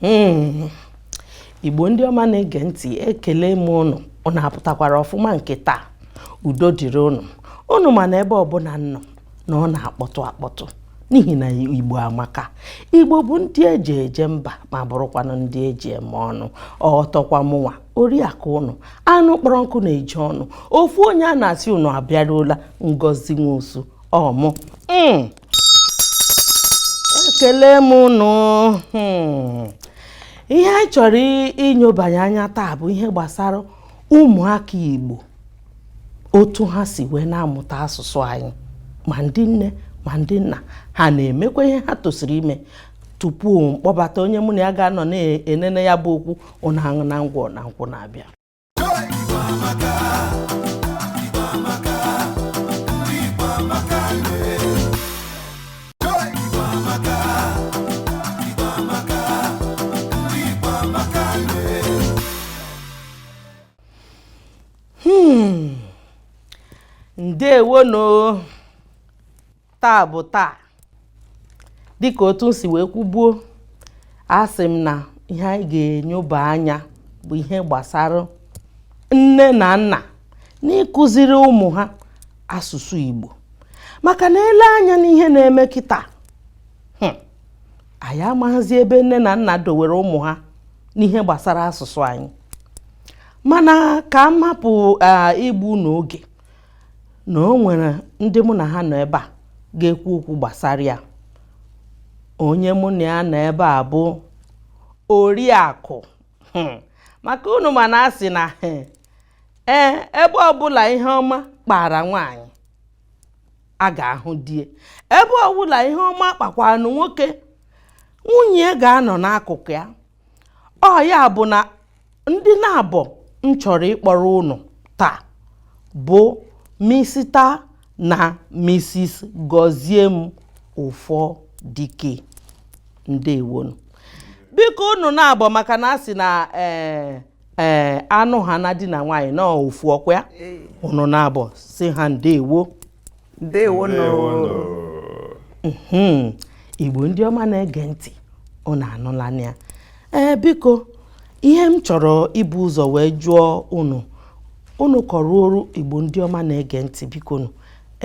Hmm. igbo ndị ọma na-ege ntị ekele m ụnụ ụnụ apụtakwara ọfụma nke taa udo dịrị ụnụ ụnụ ma na ebe ọbụla m nọ na ọ na-akpọtụ akpọtụ n'ihi na igbo amaka igbo bụ ndị eji eje mba ma bụrụkwanụ ndị eji eme ọnụ ọtọkwa mụnwa oriakụ ụnụ anụ kpọrọ nkụ na-eju ọnụ ofu onye a na-asị ụnụ abịaruola ngozi nwosu ọ mụ hmm. ekele m ụnụ hmm. ihe anyị chọrọ inyobanye anya taa bụ ihe gbasara ụmụaka igbo otu ha si wee na-amụta asụsụ anyị ma ndị nne ma ndị nna ha na-emekwa ihe ha tosiri ime tupu m kpọbata onye mụ na ya ga-anọ na-enene ya bụ okwu ụnụ aṅụna ngwọ na nkwụ na-abịa hmm. ndewo nụ taa bụ taa dịka otu m si wee kwubuo asị m na ihe anyị ga-enyoba anya bụ ihe gbasara nne na nna n'ịkụziri ụmụ ha asụsụ Igbo maka na e lee anya n'ihe na-eme kịtaa hmm, anyị amaghịzi ebe nne na nna dowere ụmụ ha n'ihe gbasara asụsụ anyị mana ka m hapụ igbu unu oge na o nwere ndị mụ na ha nọ ebe a ga-ekwu okwu gbasara ya onye mụ na ya nọ ebe a bụ oriakụ hmm. maka unu ma na a sị na hmm, ee eh, ebe ọbụla ihe ọma kpara nwaanyị a ga-ahụ di e ebe ọbụla ihe ọma kpakwanụ nwoke nwunye ga-anọ n'akụkụ ya ọ ya bụ na ndị naabọ m chọrọ ịkpọrọ ụnụ taa bụ misita na misis gọziem ụfọdike ndewo nụ biko unu naabọ maka na a sị na ee eh, ee anụ ha na di na nwaanyị na ofu ọkwa ya ụnụ naabọ sị ha ndewo ndewo hmm. igbo ndị ọma na-ege ntị ụnụ anụla ya ee biko ihe m chọrọ ibu ụzọ wee jụọ ụnụ unu kọọrọ igbo ndị ọma na-ege ntị biko nụ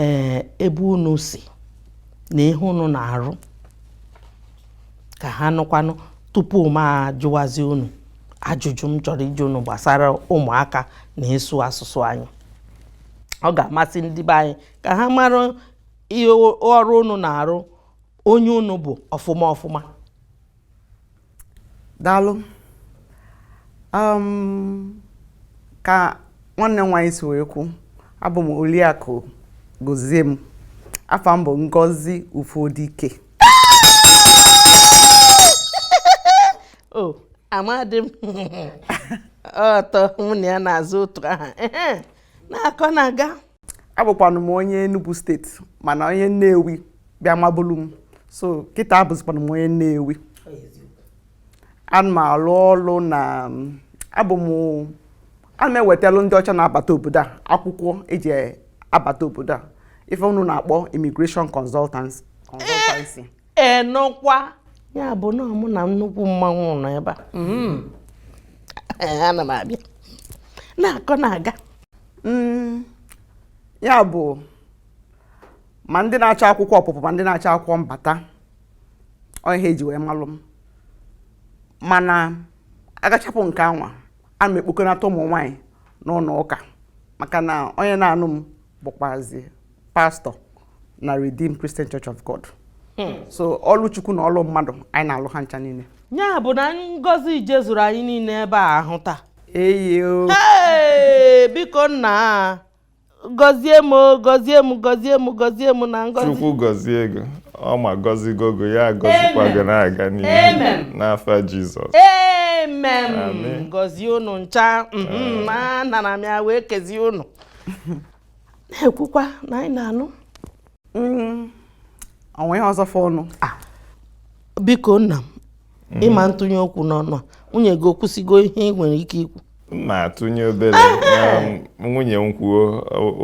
ee ebe unu si na ihe unu na-arụ ka ha nụkwanụ tupu m ajụwazi unu ajụjụ m chọrọ ịjụ unu gbasara ụmụaka na ịsụ asụsụ anyị ọ ga-amasị ndị be anyị ka ha mara ihe ọrụ unu na-arụ onye unu bụ ọfụma ọfụma daalụ ka nwanne m nwaanyị si wee kwu abụ m Oriakụ Goziem afa m bụ Ngozi Ufodike o oh, amadị m ọtọ nwunye ya na-aza otu aha na-akọ na-aga abụkwanụ m onye Enugu steeti mana onye Nnewi bịa mabụlu m so kịta abụzikwanụ m onye Nnewi ana m alụ ọlụ na abụ m ana m ewetalụ ndị ọcha na-abata obodo a akwụkwọ eji abata obodo a ife unu na-akpọ immigration consultancy consultancy ịnụkwa ya bụ na mụ na nnukwu mmanwụ nọ ebe a mm-hmm. ana m abịa na-akọ na-aga mm, ya bụ ma ndị na-achọ akwụkwọ ọpụpụ ma ndị na-achọ akwụkwọ mbata ọ ihe eji wee malụ m mana agachapụ nke anwa a m ekpokọnata ụmụ nwaanyị n'ụnọ ụka maka na onye na-anụ m bụkwazi pastọ na Redeemed Christian Church of God hmm. so ọlụ Chukwu na ọlụ mmadụ anyị na-alụ ha ncha niile ya bụ na ngọzi ije zuru anyị niile ebe a ahụ taa ee biko nna gọzie m o gọzie m gọzie m gọzie m na ngọzi chukwu gọzie gị o ọ ma gọzigo gị o ya gọzikwa gị na-aga n'ihu n'afa jizọs amen gọzie unu ncha mhm, anara m ya wee kezie unu na-ekwukwa na anyị na-anụ Mm, o nwe ihe ọzọ fọ ọnụ ah. biko nna m mm. ịma ntụnye okwu n'ọnụ a nwunye gị ekwusigo ihe ị nwere ike ikwu m ma atụnye obere ah. nwunye m kwuo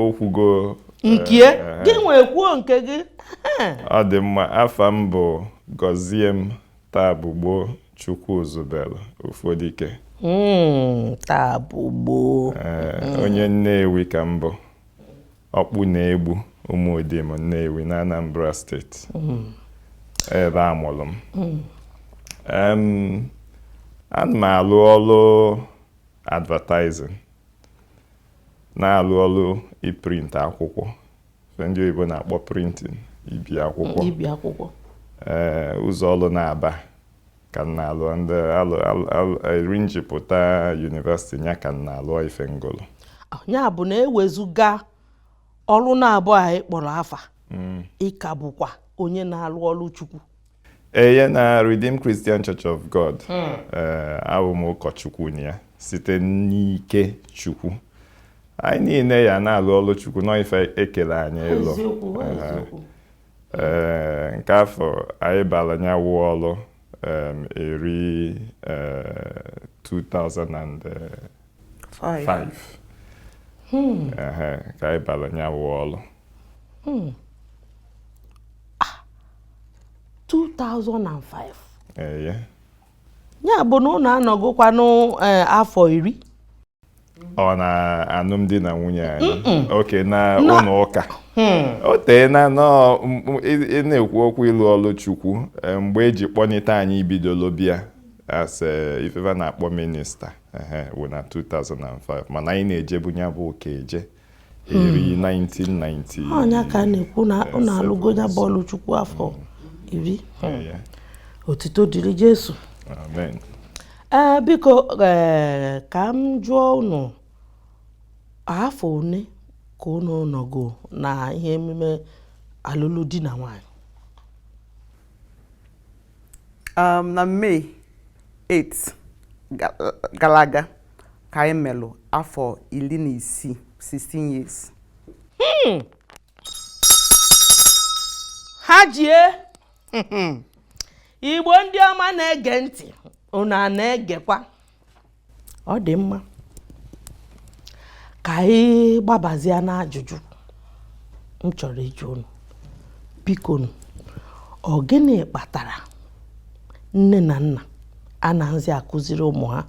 o kwugo nke ya, eh. gị nwee kwuo nke gị ọ dị mma afa m bụ Goziem Tabugbo Chukwuzubelu Ufodike hmm, Tabugbo eh, onye nnewi ka m bụ Okpuno-Egbu Umudim Nnewi n'Anambra steeti. Hmm. Ebe a mụlụ m. Hmm. Ana m alụ ọlụ advertising, na-alụ ọlụ iprint akwụkwọ, ndị oyibo na-akpọ printing, ibi akwụkwọ. Ibi akwụkwọ. Ee, ụzọ ọlụ naabọ. ka m na-alụ ndị alụ alụ- alụ- eri m ji pụta university nya ka m na-alụ ife m gụlụ ya bụ na ewezuga ọrụ naabọ a ị kpọrọ afa ị ka bụkwa onye na-alụ ọrụ chukwu eye na Redeemed Christian Church of God ee abụ m ụkọchukwu na ya site n'ike chukwu anyị niile ya na-alụ ọrụ chukwu na ọ ife e kele anyị ịlụ Ehe. Ee, nke afọ anyị bara ya wụ ọrụ em, eri eh, 2005 Ehe, ka anyị bara ya wụ ọrụ 2005 eye ya bụ na unu anọgokwanụ eh, afọ iri ọ na alụmdi na nwunye anyị okay na ụlọ ụka hmm. o tee na ị na-ekwu okwu ịlụ ọlụ chukwu eh, mgbe e ji kpọnite anyị bidolo bịa as eh, ife fa na-akpọ minister wụ na 2005 mana anyị na-ejebu ya bụ ụka eje eri 1990 hmm. ọ nya ka a na-ekwu na unu alụgo ya bụ ọlụ chukwu afọ iri otito dịrị jesu ee eh, biko eh, ka m jụọ unu afọ one ka unu nọgo na ihe emume alụlụ di na nwanyị Um, na May 8 ga- gara aga ka anyị melụ afọ iri na isii 16 years ha jie igbo ndị ọma na-ege ntị unu ana-egekwa ọ dị mma ka anyị gbabazie n'ajụjụ m chọrọ ịjụ unu bikonu ọ gịnị kpatara nne na nna anaghịzi akụziri ụmụ ha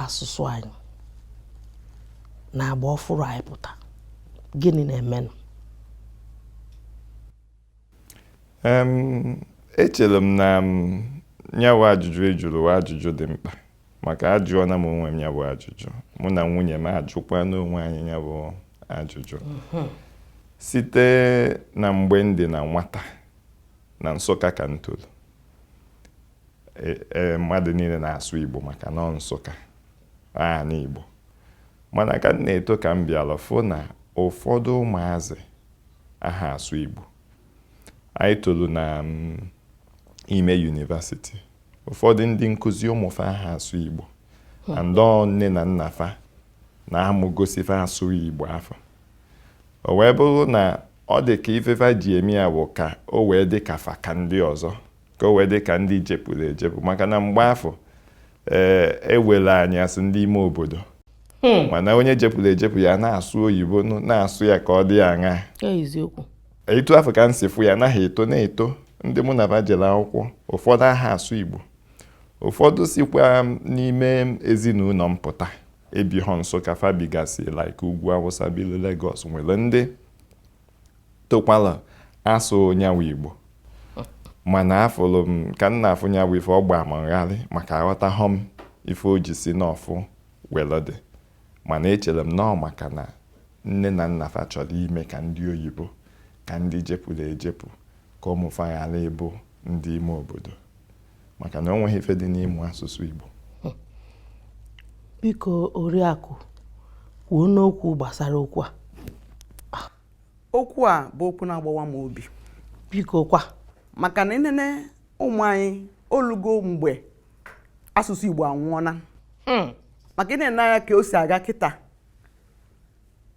asụsụ anyị na agba ọfụrụ anyị pụta gịnị na-emenụ echere m na nya wụ ajụjụ ị jụrụ wụ ajụjụ dị mkpa maka ajụọna m onwe m ya bụ ajụjụ mụ na nwunye m ajụkwana onwe anyị ya bụ ajụjụ mhm. site na mgbe m dị na nwata na Nsụka ka m toro e, e, mmadụ niile na-asụ Igbo maka na ọ Nsụka ana Igbo mana ka m na-eto ka m bịara fụ na ụfọdụ ụmụazị aha asụ Igbo anyị tolu na mm, ime university ụfọdụ ndị nkụzi ụmụ fa aha asụ Igbo and ọ nne na nna fa na amụgosi fa asụ Igbo afụ o wee bụrụ na ọ dị ka ife fa ji eme ya bụ ka o wee dị ka fa ka ndị ọzọ ka o wee dị ka ndị jepụrụ ejepụ maka na mgbe afụ ee eh, e were anyị sị ndị ime obodo hmm. mana onye jepụrụ ejepụ ya na-asụ oyibo na-asụ ya ka ọ dị ya aṅa etu afụ ka m si fụ ya anaghị eto na-eto ndị mụ na fa jere akwụkwọ ụfọdụ aha asụ igbo ụfọdụ sikwa n'ime ezinụlọ m pụta ebighọ Nsụka fa bigasị like ugwu awụsa bilu Lagos nwere ndị tokwala asụ nyanwụ Igbo mana afụlụ m ka m na-afụ nyanwụ ife ọ gbaa m ngharị maka aghọtahọ m ife o ji si n'ọfụ welu dị mana echere m na ọ maka na nne na nna fa chọrọ ime ka ndị oyibo ka ndị jepụrụ ejepụ ka ụmụ fa ghara ịbụ ndị ime obodo maka na o nweghị ife dị n'ime asụsụ Igbo biko oriakụ kwuo n'okwu gbasara okwu a ah. okwu a bụ okwu na-agbawa m obi biko kwa maka na i nene ụmụ anyị olugo mgbe asụsụ Igbo anwụọla hmm. maka i nene anya ka o si aga kịta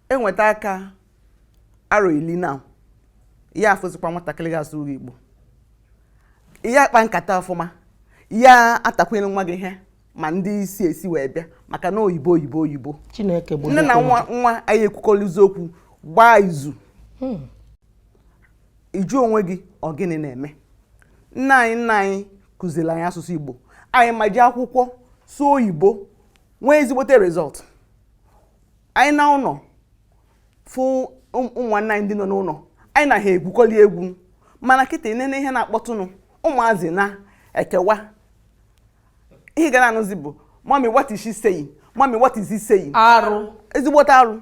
enweta aka arọ ili na ya afụzikwa nwatakịrị ya asụ igbo ya akpa nkata ọfụma ya atakwuru nwa gị ihe ma ndị isi esi wee bịa maka na oyibo oyibo oyibo chineke bụ nne na nwa nwa anyị ekwukọrịzi okwu gbaa izu hmm. ị jụọ onwe gị ọ gịnị na-eme nna anyị nna anyị kụziri anyị asụsụ igbo anyị ma jee akwụkwọ sụọ oyibo nwee ezigbote result anyị naa ụlọ fụ ụmụnna anyị ndị nọ n'ụlọ anyị na ha egwukọli egwu mana kịta nene ihe na-akpọtụnụ ụmụazị na-ekewa ihe ị ga na-anụzi bụ mummy what is she saying mummy what is he saying arụ ezigbote arụ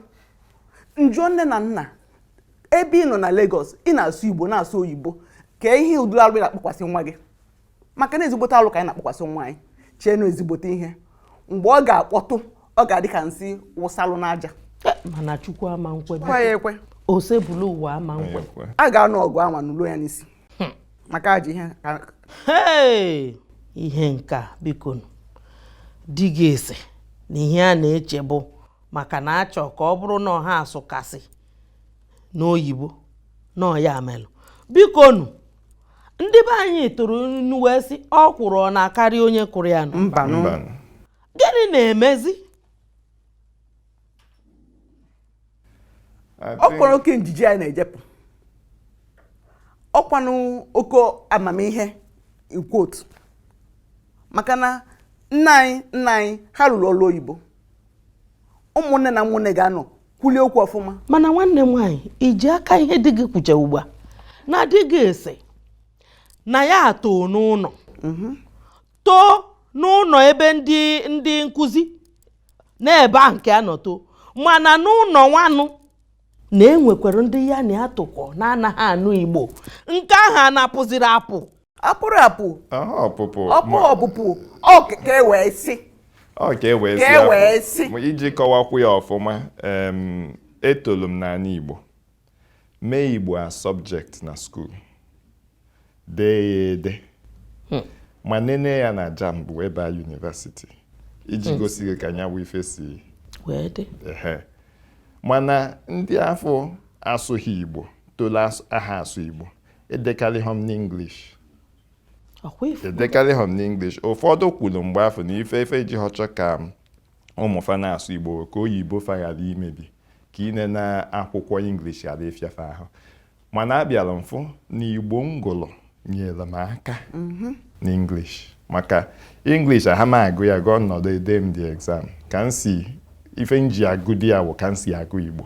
m jụọ nne na nna ebe ị nọ na Lagos ị na-asụ Igbo na-asụ oyibo kee ụdị arụ ị na-akpakwasị nwa gị maka na ezigbote alụ ka anyị na-akpakwasị nwa anyị chee na ọ ezigbote ihe mgbe ọ ga-akpọtụ ọ ga-adị ka nsị wụsalụ n'aja eh, mana chukwu ama nkwe ya ekwe osebuluwa ama nkwe a ga-anụ ọgụ anwa nụluo ya n'isi hmm. maka ajọ ihe ihe nka bikonu dị ka ị sị na ihe a na-eche bụ maka na a chọ ka ọ bụrụ na ọ ha sụkasị n'oyibo na ọ ya melụ bikonu ndị be anyị tụrụ inu wee sị ọkwụrụ ana akarị onye kụrụ ya nụ mbanụ Mbanụ. gịnị na-emezi I think- ọ kwara oke njiji anyị na-ejepụ ọkwanụ oke amamihe ikwu otu maka na nna anyị nna anyị ha rụrụ ọrụ oyibo ụmụnne na ụmụnne ga-anọ kwulie okwu ọfụma mana nwanne m nwaanyị iji aka ihe di gị kwucha ugbu a na di gị asị na ya too n'ụnọ mhm. too n'ụnọ ebe ndị ndị nkụzi na ebe ahụ ka ya nọ too mana n'ụnọ nwanụ na enwekwara ndị ya na ya tokọ na-anaghị anụ igbo nke ahụ a na-apụziri apụ apụrụ apụ ọpụpụ ọpụ ọpụpụ ọ ka e wee sị ọ ka e wee sị e wee sị iji kọwakwu ya ọfụma etolu m n'anị Igbo mee Igbo as subject na school dee ya ede hmm. ma nene ya na jamb wee baa university iji hmm. gosi gị ka nya wụ ife si wee dị mana ndị afụ asụghị Igbo tolu aha asụ Igbo Edekarịha m n'English. Ọkwa ị fụ. Edekarịha m n'English. Ụfọdụ kwuru mgbe afụ na ife fa jihọ chọọ ka ụmụ fa na-asụ Igbo ka oyibo fa ghara imebi ka inene akwụkwọ English ghara ịfịa fa ahụ. Mana abịara m fụ na Igbo m gụrụ nyere m aka n'English. Maka English aha m agụ ya agụ m nọdụ ede m the exam. Ka m si ife m ji agụdị ya wụ ka m si agụ Igbo.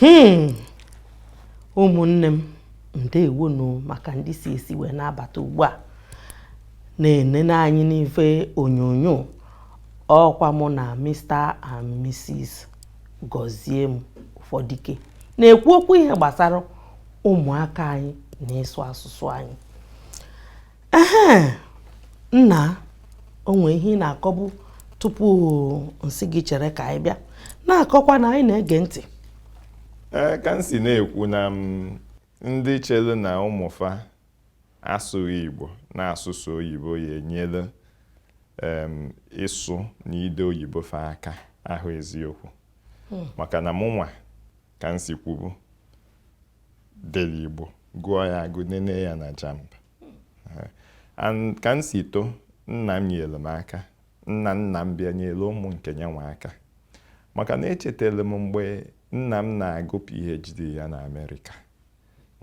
hmm. ụmụnne m ndeewonụ maka ndị si esi wee na-abata ugbu a na-enene anyị n'ife onyonyo ọkwa mụ na Mr and Mrs Goziem Ufodike na-ekwu okwu ihe gbasara ụmụaka anyị na ịsụ asụsụ anyị ehe nna o nwee ihe ị na-akọbu tupu m sị gị chere ka anyị bịa na-akọkwa na anyị na-ege ntị ee ka m si na-ekwu na em ndị chere na ụmụ fa asụghị igbo na-asụ sọ oyibo ya-enyere em, ịsụ na ide oyibo fa aka ahọ eziokwu maka na mụnwa ka m si kwubu dere Igbo gụọ ya agụ nene ya na jamb ka m si too nna m nyere m aka nna nna m bịa nyere ụmụ nke nyanwa aka maka na echetara m mgbe nna m na-agụ PhD ya na America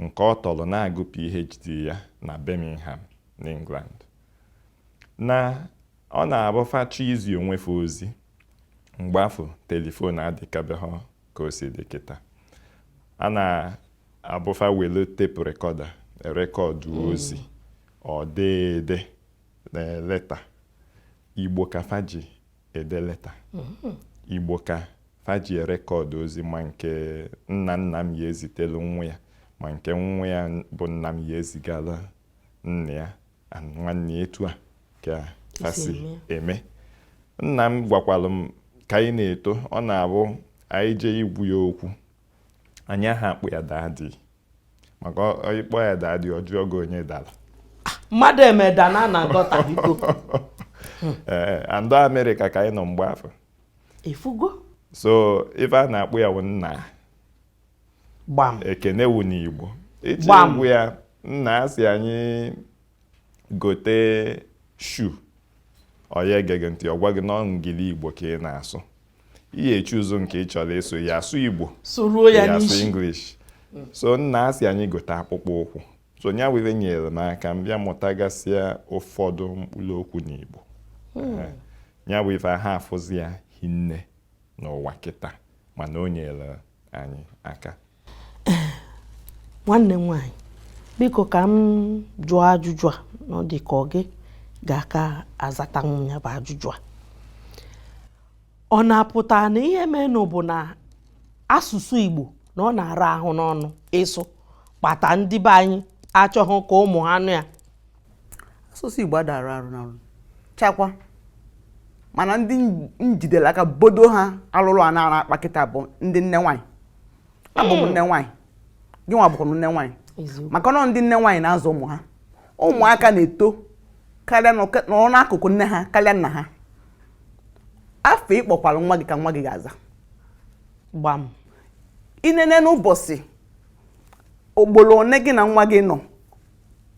nke ọ tọrọ na-agụ PhD ya na Birmingham n'England na ọ na-abụ fa chọọ izi onwe fa ozi mgbe afụ telephone adịkabehọ ka o si dị kịta ọ na-abụ fa welu tape recorder rekọdụ hmm. ozi ọ dị ede leta igbo ka fa ji ede leta hmm. igbo ka fa ji rekọdụ ozi ma nke nna nna m ya-ezitelu nwa ya ma nke nwa ya bụ nna m ya-ezigala nna ya nwanne etu a ka ha si eme nna m gwakwalụ m ka anyị na-eto ọ na-abụ anyị jee ịgwa ya okwu anyị aha akpọ ya daddy maka ị kpọọ ya daddy ọ jụọ gị onye dara mmadụ emeda na na agọta biko ee and ọ amerịka ka anyị nọ mgbe afụ ịfụgo so ife a na-akpọ ya bụ nna gbam ekene wu n'igbo i jee Gbam. ịgwa ya nna ya si anyị gote shoe ọ ya ege gị ntị ọ gwa gị na ọ engiligbo ka ị na-asụ ị ya-echoose nke ị chọrọ ịsụ ị ya-asụ igbo sụruo ya ya asụ n'isi english so nna a sị anyị gote akpụkpọ ụkwụ so nya were nyere m aka m bịa mụtagasịa ụfọdụ mkpụrụ okwu n'igbo Eh, nya bụ ife ha afụzi ya hinne n'ụwa kịta mana o nyere anyị aka nwanne m nwaanyị biko ka m jụọ ajụjụ a na ọ dị ka ọ gị ga-aka azata ya bụ ajụjụ a ọ na-apụta na ihe menụ bụ na asụsụ Igbo na ọ na-ara ahụ n'ọnụ ịsụ kpata ndị be anyị achọghị ka ụmụ ha nụ ya asụsụ Igbo ada ara arụ na chakwa mana ndị m jidere aka bodo ha alụrụ a na-ara akpa kịta bụ ndị nne nwaanyị abụ m nne nwaanyị gị nwa bụkwara nne nwaanyị maka na ọ ndị nne nwaanyị na-azụ ụmụ ha ụmụaka na-eto ka anọrọ n'akụkụ nne ha karịa nna ha afa ị kpọkwara nwa gị ka nwa gị ga-aza gbam i nene n'ụbọchị ugbolo one gị na nwa gị nọ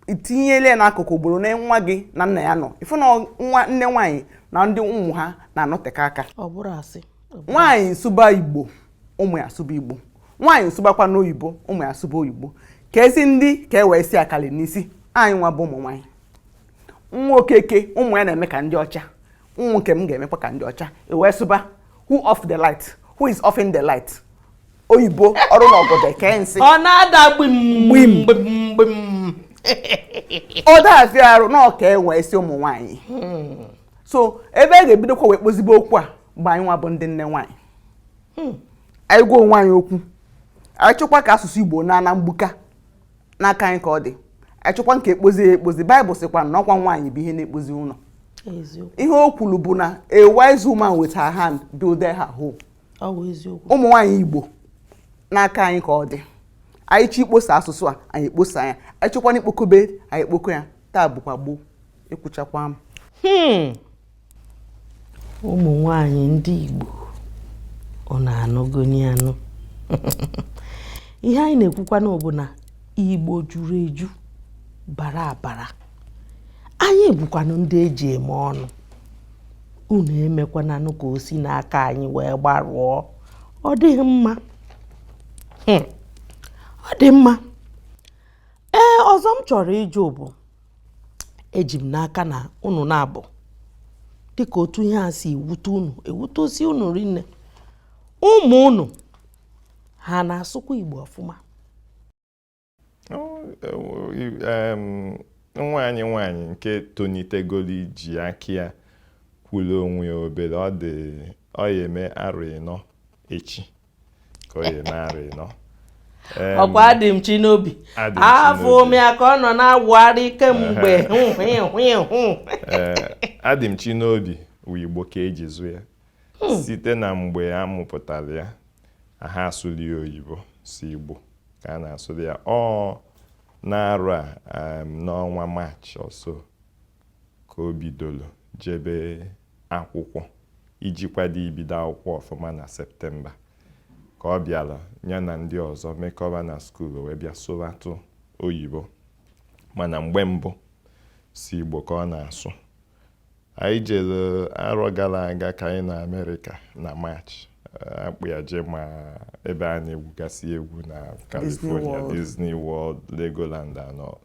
i tinyele ya n'akụkụ ugboro one nwa gị na nna ya nọ ịfụ na ọ nne nwaanyị na ndị ụmụ ha na-anọteka aka nwaanyị sụba igbo ụmụ ya asụba igbo nwaanyị sụbakwanụ oyibo ụmụ ya asụba oyibo ka ezi ndị ka e wee si akali n'isi anyị nwa bụ ụmụ nwaanyị nwa okeke ụmụ ya na-eme ka ndị ọcha ụmụ nke m ga-emekwa ka ndị ọcha i wee sụba who off the light who is offing the light oyibo ọrụ na ọgọdọ eke nsị ọ na-ada gbim gbim gbim ọ dazi arụ na ọ ka enwe isi ụmụ nwaanyị hmm. so ebe a ga-ebidokwa wee kpozibe okwu a mgbe anyị nwa bụ ndị nne nwaanyị hmm. anyị gwa onwe anyị okwu anyị chọkwa ka asụsụ igbo naa ana mgbuka n'aka anyị ka ọ dị anyị chọkwa nke ekpozi ya ekpozi baịbụl sịkwa na ọkwa nwaanyị bụ ihe na-ekpozi ụlọ ihe o kwuru bụ na a wise woman with her hand build her home ụmụ nwaanyị Igbo n'aka anyị ka ọ dị anyị chọ ikposa asụsụ a anyị ekposa ya anyị chọkwanụ ikpokobe anyị ekpoko ya taa bụkwa gboo ekwuchakwa m hmm. ụmụ nwanyị ndị Igbo ụnụ anụgoni anụ ihe anyị na-ekwukwanụ bụ na Igbo juru eju bara abara anyị bụkwanụ ndị eji eme ọnụ unu emekwananụ ka o si n'aka anyị wee gbarụọ ọ dịghị mma hmm. ọ dị mma ee ọzọ m chọrọ ịjụ bụ eji m n'aka na unu na-abụ dịka otu ihe a si ewute unu ewute o si unu rinne ụmụ unu ha na-asụkwa Igbo ọfụma nwa anyị nwaanyị nke tonitegoro iji aka ya kwuru onwe ya obere ọ dị ọ ya eme arọ ịnọ echi ka ọ ya eme arọ ịnọ ọkwa Adịmchinobi afụ m ya ka ọ nọ na-awụgharị kemgbe Adịmchinobi wụ igbo ka eji zụ ya hmm. site na mgbe a mụpụtara ya aha asụlị ya oyibo sọ Igbo ka a na-asụlị ya ọ n'arọ a um, n'ọnwa maachị or so ka o bidoro jebe akwụkwọ iji kwado ibido akwụkwọ ọfụma na septemba ka ọ bịara ya na ndị ọzọ mekọba na skuul wee bịa sụbatụ oyibo mana mgbe mbụ sọ Igbo ka ọ na-asụ Anyị jere arọ gara aga ka anyị nọ Amerịka na Maachị. Akpụ ya jee ma ebe a na-egwugasị egwu na California, Disney World, Legoland and all.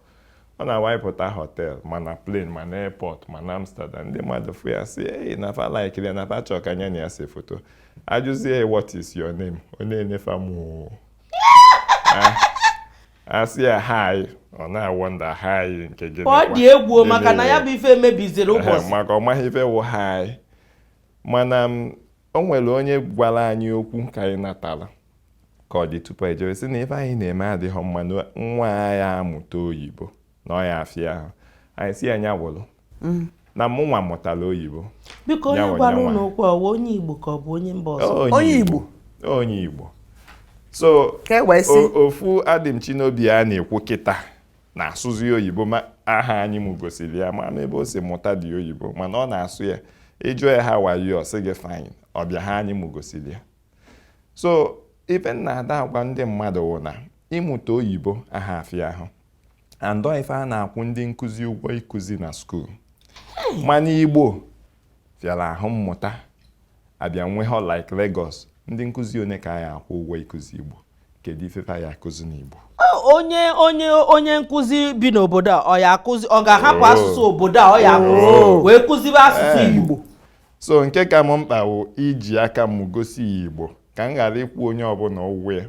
Ọ na-awụ anyị pụta họtel ma na plen ma na airport ma na Amsterdam. Ndị mmadụ fụ ya sị ei na fa laikiri ya na fa chọọ ka nya na ya see foto. Ajụzie ya what is your name? Ọ na-ene fa moo. asị ya hi ọ na-awọnda hi nke gịnị ọ dị egwu o, maka na ya bụ ife mebiziri Ehe, ụbọchị maka ọ maha ife wụ hi mana m, o nwere onye gwara anyị okwu ka anyị natara ka ọ dị tupu ejewe sị na ife anyị na-eme adịhọ mma na nwa ya amụta oyibo na ọ ya afịa ahụ anyị sị ya nya wụrụ mm. na mụnwa mụtara oyibo biko onye gwara unu okwu ọ wụ onye igbo ka ọ bụ onye mba ọzọ onye igbo onye igbo so e ofu Adịmchinobi a na-ekwu kịta na-asụzi oyibo ma aha anyị m gosiri ya ama m ebe o si mụtadị oyibo mana ọ na-asụ ya ị jụọ ya how are you ọ sị gị fine ọ bụha anyị m gosiri ya so ife m na-adị agwa ndị mmadụ wụ na ịmụta oyibo aha afịa ahụ and ọ ife a na-akwụ ndị nkụzi ụgwọ ịkụzi na skuul mana igbo fịara ahụ mmụta a bịa n'ebe a like Lagos ndị nkụzi one ka a ya akwụ ụgwọ ịkụzi igbo kedu ife a ya akụzi n'igbo onye onye onye nkụzi bi n'obodo a ọ ya akụzi ọ ga-ahapụ oh. asụsụ obodo a ọ ya akụzi oh. wee kụzibe asụsụ eh. igbo so nke ka m mkpa wụ iji aka m gosi ya igbo ka m ghara ịkwụ onye ọbụna ụgwọ ya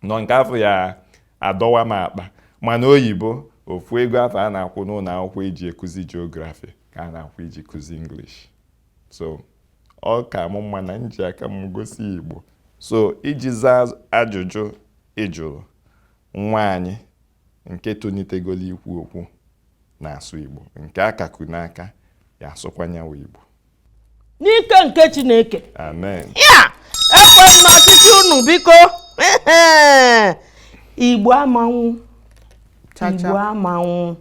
nọ nke afụ ya adọwa m akpa mana oyibo ofu ego afụ a na-akwụ n'ụlọ akwụkwọ iji ekuzi geography ka a na-akwụ iji kuzi English so ọ ka mụ mma na m ji aka m gosi Igbo so iji zaa ajụjụ ị jụrụ nwa anyị nke tonitegolo ikwu okwu na-asụ Igbo nke a ka ku n'aka ya asụkwa ya nwa Igbo n'ike nke chineke amen ya ekwe m n'ọchịchị unu biko igbo ama anwụ Cha cha. igbo ama anwụ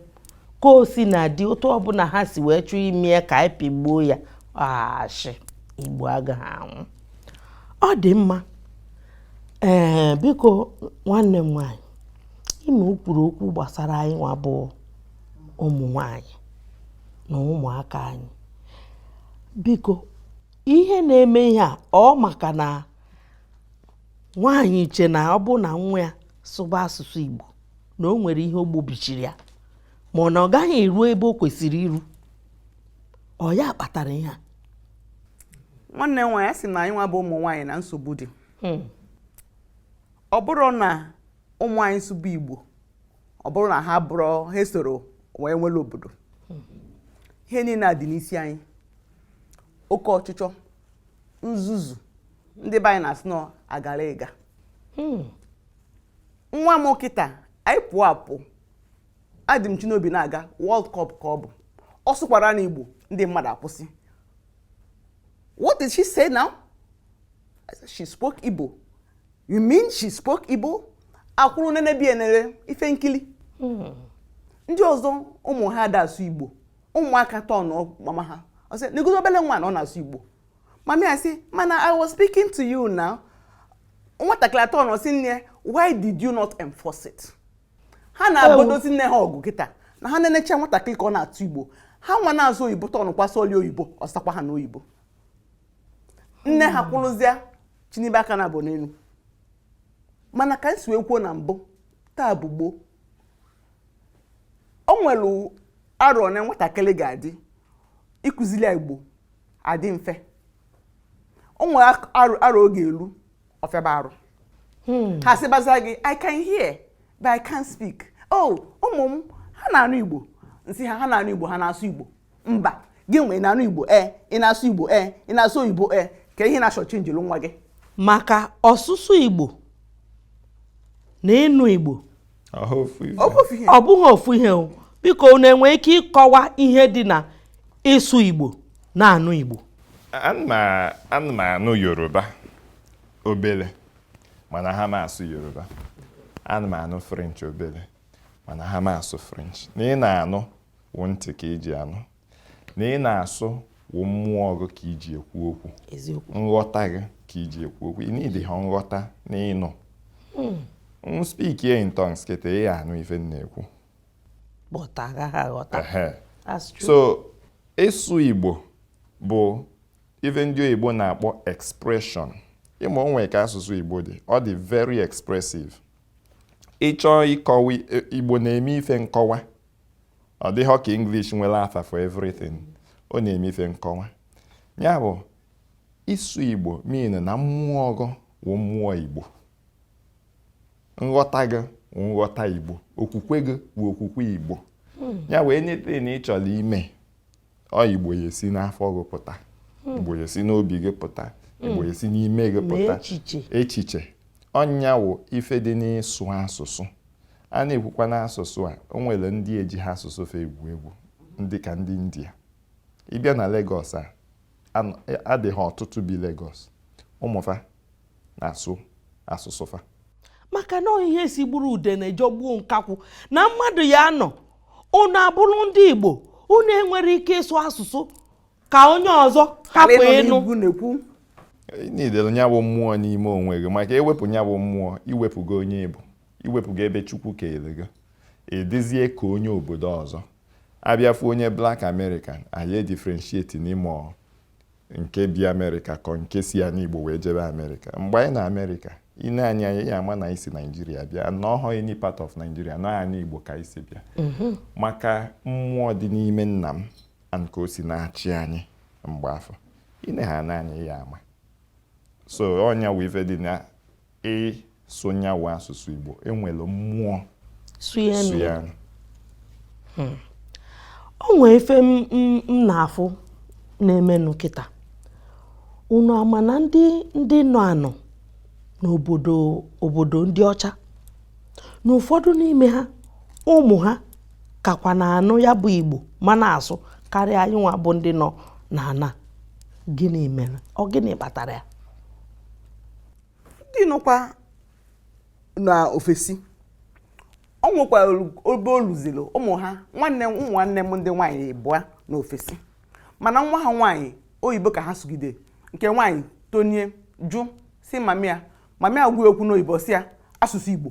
ka o sina dị otu ọbụla ha si wee chọọ ime ya ka anyị pịgbuo ya ashị igbo agaghị anwụ ọ dị mma ee biko nwanne m nwanyị ime o kwuru okwu gbasara anyị nwa bụ ụmụ nwanyị na ụmụaka anyị biko ihe na-eme ihe a ọ maka na nwaanyị na-eche na ọ bụ na nwa ya sụba asụsụ Igbo na o nwere ihe o gbobichiri ya ma ọ na ọ gaghị eru ebe o kwesịrị iru ọ ya kpatara ihe a nwanne m nwaanyị sị na anyị nwa bụ ụmụ nwaanyị na nsogbu dị hmm. ọ bụrụ na ụmụ anyị sụba Igbo ọ bụrụ na ha bụrụ ha esoro wee nwere obodo ihe niile a dị n'isi anyị oke ọchịchọ nzuzu ndị be anyị na-asị na agara ịga hmm. nwa m kịta anyị pụọ apụ Adịmchinobi na-aga World Cup ka ọ bụ ọ sụkwaranụ Igbo ndị mmadụ akwụsị what did she say now she spoke Igbo You mean she spoke Igbo? Akwụrụ nenebe ene ife nkili. Hmm. Ndị ọzọ ụmụ ha ada asụ Igbo. Ụmụaka tọọ mama ha. Ọ sị, negozi obele nwa na ọ na-asụ Igbo. Mami asị, mana I was speaking to you now. Nwatakịrị atọ nọ sị nne, why did you not enforce it? Ha na-agbodozi nne ha ọgụ kịta na ha na-enecha nwatakịrị ka ọ na-asụ Igbo. Ha nwa na-asụ oyibo tọnụ kwasị oli oyibo, ọ sakwa ha n'oyibo. Nne ha hmm. kwụrụzịa chịnibe aka naabụ n'elu mana ka m si wee kwuo na mbụ taa bụ gboo o nwere arọ na nwatakịrị ga-adị ịkụzili ya igbo adị mfe o nwere arọ ọ ga-elu ọ fịaba arụ hmm. ha sịbaza gị i can hear but i can't speak oh ụmụ m ha na-anụ igbo m sị ha ha na-anụ igbo ha na-asụ igbo mba gị nwe ị na-anụ igbo ee ị na-asụ igbo ee ị na-asụ oyibo ee ka ihe na-achọ chenjiri nwa gị maka ọsụsụ igbo na ịnụ igbo ọ bụghị ofu ihe o biko unu enwe ike ịkọwa ihe dị na ịsụ igbo na-anụ igbo ana m anụ yoruba obere ma anaha m asụ yoruba ana m anụ french obere ma anaha m asụ french na ị na-anụ wụ ntị ka i ji anụ na ị na-asụ wụ mmụọ gị ka i ji ekwu okwu nghọta gị ka i ji ekwu okwu ị needịha nghọta na ịnụ hmm. m speakie in tongues kịta ị ya-anụ ife m na-ekwu so ịsụ Igbo bụ ife ndị oyibo na-akpọ expression ị ma o nwere ka asụsụ Igbo dị ọ dị very expressive ị chọọ ịkọwa Igbo na-eme ife nkọwa ọ dịhọ ka English nwere afa for everything ọ na-eme ife nkọwa ya bụ ịsụ Igbo mean na mmụọ gị wụ mmụọ Igbo nghọta gị wụ nghọta Igbo okwukwe gị wụ okwukwe Igbo hmm. ya wụ anything ị chọrọ ime ọ igbo ya-esi n'afọ gị pụta hmm. igbo ya-esi n'obi gị pụta hmm. igbo ya-esi n'ime gị pụta echiche ọ nya wụ ife dị n'ịsụ asụsụ a na-ekwukwa n'asụsụ a o nwere ndị ejiha asụsụ fa egwu egwu dịka ndị india ị bịa na Lagos a adịghị ọtụtụ bi Lagos ụmụ fa na-asụ asụsụ fa maka na ọ ihe sigburu udene jọgbuo nkakwụ na mmadụ ya-anọ unu abụrụ ndị Igbo unu enwerọ ike ịsụ asụsụ ka onye ọzọ hapụ ịnụ needịrị nya bụ mmụọ n'ime onwe gị maka e wepụ nya bụ mmụọ i wepụgo onye ị bụ i wepụgo ebe Chukwu kere gị ị dịzie ka onye obodo ọzọ a bịa fụ onye black American a ya-edifferentiate n'ime nke bi amerịka ka ọ nke si anị igbo wee jebe amerịka mgbe anyị nọ amerịka i nee anyị anya ị ya-ama na anyị si naijiria bịa and na ọhọ any part of naijiria na anị igbo ka anyị si bịa mm-hmm. maka mmụọ dị n'ime nna m and ka o si na-achị anyị mgbe afụ i nee ha anya ị ya-ama so ọ nya wụ ife dị na Ịsụ nya wụ asụsụ Igbo, e nwere mmụọ so ya nụ. Hmm. O nwere ife m na-afụ na-emenụ kịta. Unu ama na ndị ndị nọ anọ n'obodo obodo ndị ọcha na ụfọdụ n'ime ha ụmụ ha kakwa na-anụ ya bụ Igbo ma na-asụ karịa anyị nwa bụ ndị nọ n'ana. Gịnị mere? Ọ gịnị kpatara ya? ndị nọkwa na ofesi o nwekwara oge o luzilo ụmụ ha nwanne ụmụ nwanne m ndị nwaanyị ịbụa nọ ofesi mana nwa ha nwaanyị oyibo ka ha sụgide nke nwaanyị tonie jụ sị mama ya mama ya gwa ya okwu n'oyibo sị ya asụsụ igbo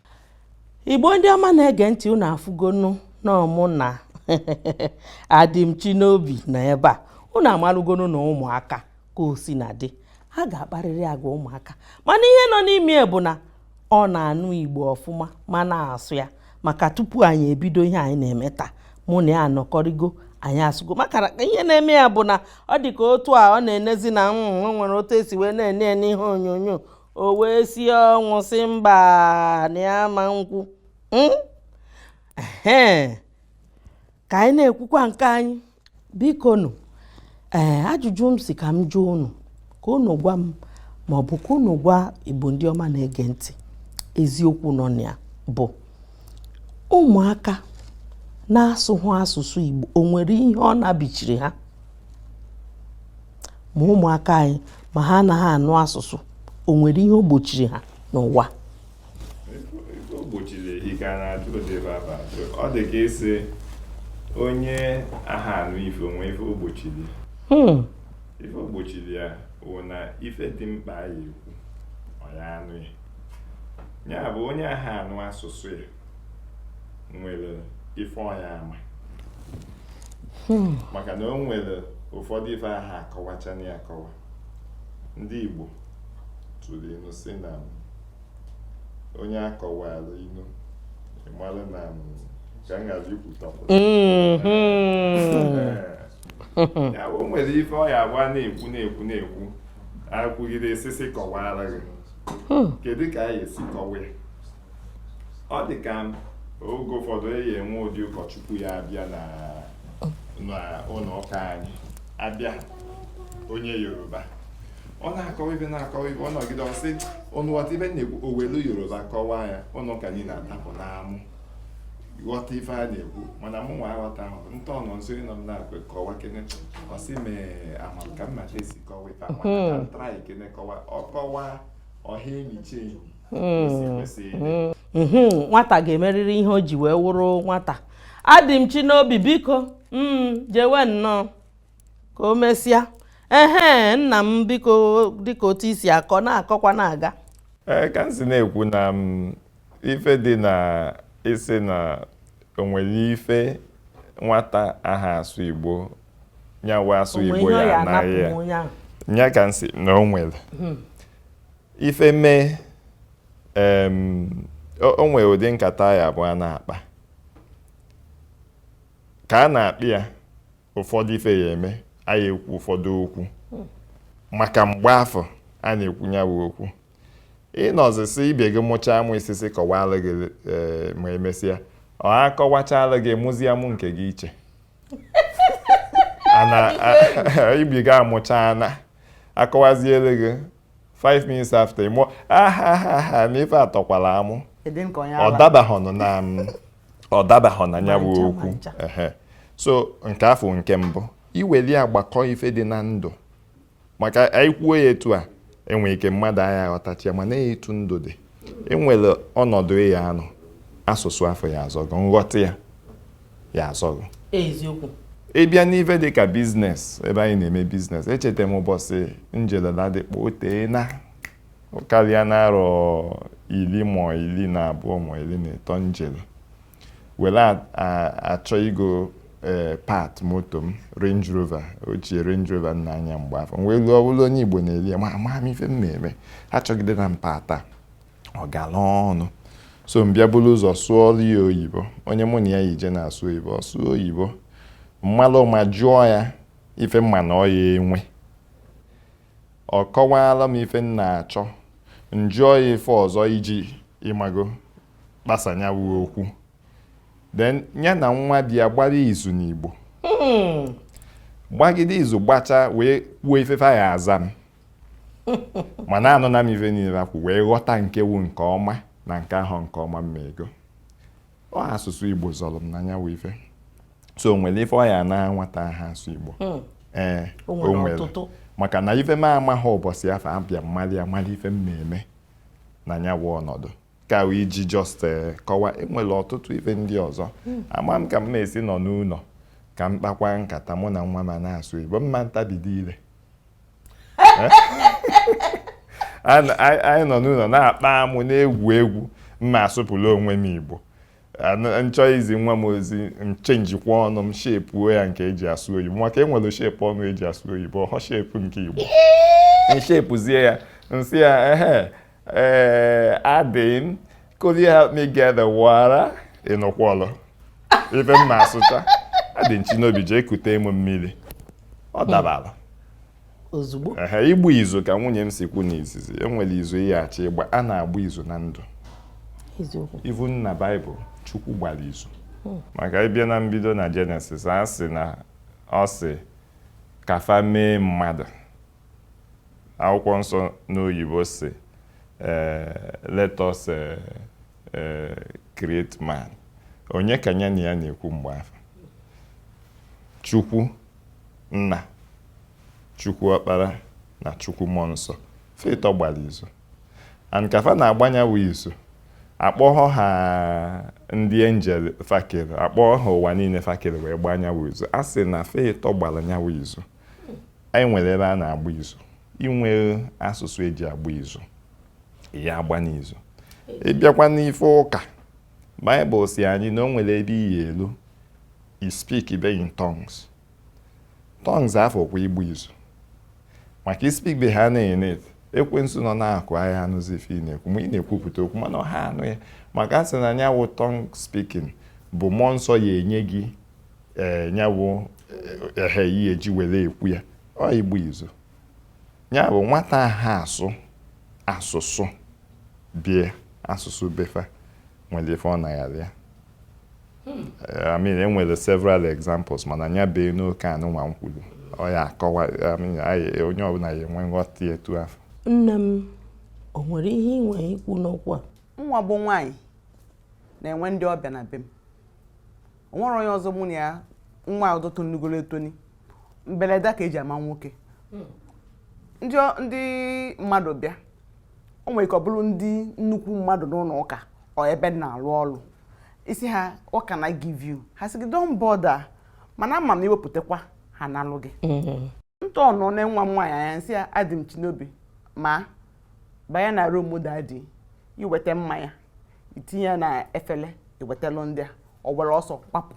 igbo ndị ọma na-ege ntị unu afụgonu na ọ mụ na adịmchinobi nọ ebe a unu amarụgonu na ụmụaka ka o si na-adị ha ga-akparịrị agwa ụmụaka mana ihe nọ n'ime bụ na ọ na-anụ igbo ọfụma ma na-asụ ya maka tupu anyị ebido ihe anyị na-eme taa mụ na ya anọkọrịgo anyị asụgo maka ihe na-eme ya bụ na ọ dị ka otu a ọ na-enezi na mm, o nwere otu e si wee na-ene ya n'ihe onyonyo o wee si ọnwụ sị mba na ya ama ekwu hmm? ka anyị na-ekwukwa nke anyị bikonụ ee eh, ajụjụ m sị ka m jụọ unu ka unu gwa m ma ọ bụ ka unu gwa igbo ndị ọma na-ege ntị eziokwu nọ na ya bụ ụmụaka na-asụhụ asụsụ igbo o nwere ihe ọ nabichiri ha ma ụmụaka anyị ma ha anaghị anụ asụsụ o nwere ihe o gbochiri ha n'ụwa ọ dị ka ị sị onye aha anụ ife o nwe ife o gbochiri hmm. ife o gbochiri ya wụ na ife dị mkpa a ya-ekwu ọ ya anụ ya ya bụ onye aha anụ asụsụ ya nwere ife ọ ya ama hmm. maka na o nwere ụfọdụ ife aha akọwachanị akọwa ndị Igbo tụrụ inu sị na onye a kọwaara inu ị mara na ka m ghara ikwutọpụ ya o nwere ife ọ ya-abụ a na-ekwu na-ekwu na-ekwu akwụgide esisi kọwara gị hmm. kedu ka a ya-esi kọwa ya ọ dị ka oge ụfọdụ a ya-enwe ụdị ụkọchukwu ya abịa na n'ụlọ ụka anyị abịa onye yoruba ọ na-akọwa ife na-akọwa ife ọ nọgide ọ sị unu ghọta ife m na-ekwu o welu yoruba kọwaa ya ụlọ ụka anyị na-adapụ n'amụ ghọta ife a na-ekwu mana mụ nwa aghọtahụ nta ọnọ nso ịnọ m na-akwe kọwakene ọ sị mee amam ka mmata esi kọwa ife a mana ka m trykene kọwa ọ kọwa ọha enyi chi enyi hmm. hmm. hmm. nwata ga-emerịrị ihe o ji wee wụrụ nwata adịmchinobi biko jewe nnọọ ka o mesịa ehe nna m biko dịka otu i si akọ na-akọkwa na-aga ee ka m si na-ekwu na ife dị na ị sị na o nwere ife nwata aha asụ Igbo nyawa asụ Igbo ya anaghị ya ya ka m sị na o nwere hmm. ife mee o nwere ụdị nkata ya abụ a na-akpa ka a na-akpa ya ụfọdụ ife ya eme a ya ekwu ụfọdụ okwu maka mgbe afụ a na-ekwu ya bụ okwu ị nọzi sị ibe gị mụchaa amụ ị sị sị kọwara gị e, ma emesịa akọwachala gị mụzie amụ nke gị iche ibe gị amụchaa a na-akọwaziere gị 5 minutes after ị mụọ ahahaha na ife atọkwala amụ ọ dabahọnụ na mm, ọ dabahọ na ya bụ okwu so nke afụ nke mbụ i weli agbakọ ife dị na ndụ maka anyị kwuo ya etu a enwere ike mmadụ aya aghọtacha ya mana etu ndụ dị enwere ọnọdụ ị ya anọ asụsụ afụ ya azọ gị nghọta ya ya azọ gị eziokwu ị bịa n'ife dị ka business ebe anyị na-eme business echeta m ụbọchị m jere Ladipo o teena karịana arọ iri ma iri na abụọ ma iri na ịtọ m jere were a- a- achọ igo ee part moto m range rover ochie range rover m na-anya mgbe afụ m wee luo ọ bụrụ onye igbo na-ere ya ma amaghị m ife m na-eme achọgidena m part a ọ gara ọnụ so m bịa buru ụzọ sụọrọ ya oyibo onye mụ na ya yi je na-asụ oyibo ọ sụọ oyibo m malụ ụma jụọ ya ife m ma na ọ ya enwe ọ kọwaara m ife m na-achọ m jụọ ya ife ọzọ iji ị mago gbasa nya wụ okwu then ya na nwa boy ya gbara izu n'Igbo gbagide izu gbacha wee kwuo ife fa ya aza m mana anụna m ife niile fa kwu wee ghọta nke wụ nke ọma na nke ahọ nke ọma m ma ego ọhọ asụsụ igbo zọrọ m na nya wụ ife so o nwere ife ọ ya ana nwata aha asụ igbo hmm. ee eh, o nwere maka na ife m amaghị ụbọchị afụ abịa m malụ ya malụ ife m na-eme na ya wụ ọnọdụ ka iji just eh, kọwa enwere ọtụtụ ife ndị ọzọ hmm. ama m ka m na-esi nọ n'ụlọ ka m kpakwa nkata mụ na nwa m a na-asụ igbo mma ntabido ile eh? anyị nọ n'ụlọ na-akpa amụ na-egwu egwu m na-asụpụrụ onwe m igbo m chọọ izi nwa m ozi m chenjikwa ọnụ m shepuo ya nke eji asụ oyibo maka enwere shape ọnụ eji asụ oyibo ọhọ shape nke igbo m shepuzie ya m sị ya ehe Eh, adịn could you help me get the water ị nụkwọlụ ife m na-asụcha adịn chinobi jee kute m mmiri ọ hmm. dabara ozugbo ehe ịgba izu ka nwunye m si kwu n'izizi enwere izu ị ya achọ ịgba a na-agba izu na ndụ even na Bible Chukwu gbara izu hmm. maka ị bịa na mbido na Genesis a sị na ọ sị ka fa mee mmadụ akwụkwọ nsọ n'oyibo sị eh, let us eh, eh, create man onye ka ya na ya na-ekwu mgbe ahụ chukwu nna chukwu ọkpara na chukwu mmụọ nsọ fa ịtọ gbara izu and ka fa na-agba nya wụ izu akpọghọ ha ndị angel fa kere akpọghọ ha ụwa niile fa kere wee gbaa nya wụ izu a sị na fa ịtọ gbara nya wụ izu anyị nwere ebe a na-agba izu i nwee asụsụ e ji agba izu ị ya-agba izu ị bịakwa n'ife ụka baịbụl sị anyị na o nwere ebe ị ya-elu ị speakbe in tongues tongues afụ ọkwa ịgba izu maka ị speakbe ha na-ene ekwensu nọ n'akụkụ aya anụzi ife ị na-ekwu ma ị na-ekwupụta okwu mana ọha anụ ya maka a sị na nya wụ tongue speaking bụ mmụọ nsọ ya-enye gị ee eh, nya wụ ehe eh, eh, ihe e ji were ekwu ya ọ ịgba izu nya bụ nwata ha asụ asụsụ be ya asụsụ be fa nwere ife ọ na ya ya hmm. I mean e nwere several examples mana nya bee na nke anụnwa m kwuru ọ ya akọwa onye ọbụla ya-enwe nghọta etu afụ nne m o nwere ihe i nwere ikwu n'okwu a m nwa bụ nwaanyị na-enwe ndị ọbịa na be m o nwere onye ọzọ mụ na ya nwa ọzọ tonugoro etoni mberede ka e ji ama nwoke hmm. ndị mmadụ bịa o nwere ike ọ bụrụ ndị nnukwu mmadụ n'ụlọ ụka or ebe m na-arụ ọrụ ị sị ha what can I give you ha sị gị don't bother mana ama m na i wepụtakwa ha analụ gị mm-hmm. ntọ nọ na nwa m nwaanyị anya m sị ya Adịmchinobi ma banye na room daddy i weta mmanya i tinye ya na efele i wetalụ ndị a o were ọsọ gbapụ